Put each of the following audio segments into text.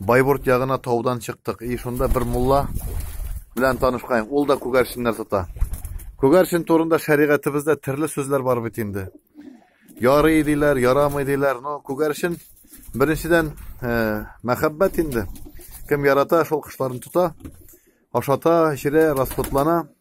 Байбурт ягына таудан чыктык. И шунда бер мулла белән танышкаем. Ул да күгәрченнәр тота. Күгәрчен турында шәригатебездә төрле сүзләр бар бит инде. Ярый диләр, ярамый диләр. Но күгәрчен беренчедән э, мәхәббәт инде. Кем ярата, шул кошларын тота, ашата, эчерә, расходлана.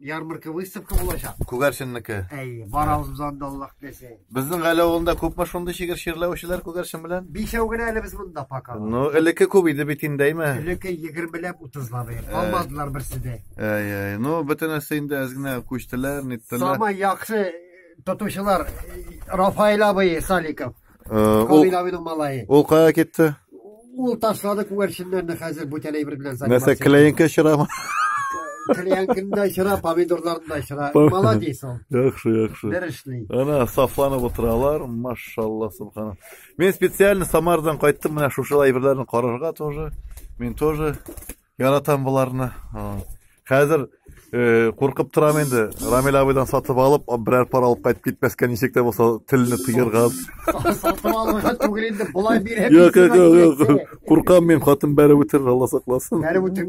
ярмарка выставка булачак. Күгәрченнеке. Әйе, барабыз без анда Аллаһ теләсә. Безнең гаилә авылында күпме шундый шигырь чирләүчеләр күгәрчен белән? Бишәү генә әле без монда пока. Ну, элекке күп иде бит инде, әйме? Элекке 20 ләп 30 лап. Алмадылар берсе дә. Әй, әй. Ну, бөтенесе инде әз генә күчтеләр, ниттеләр. Самай яхшы тотучылар Рафаил абый Саликов. Э, ул Камилабиның малае. Ул кая китте? Ул ташлады күгәрченнәрне хәзер бүтәләй бер белән заниматься. Нәрсә, клеенка чырамы? Клеенкында чыра, помидорларында чыра. Молодец ул. Яхшы, яхшы. Бер эшли. Ана сафланып утыралар, машалла, субхана. Мин специально Самардан кайттым, менә шушылай әйберләрне карарга тоже. Мин тоже Яратам боларны. Хәзер э, куркып торам инде. Рамил абыйдан сатып алып, берәр пар алып кайтып китмәскә ничек тә булса телне тыерга. Сатып алырга түгел инде, болай бирә. Юк, юк, юк. Куркам мин, хатын бәреп үтерер, Алла сакласын. Бәреп үтер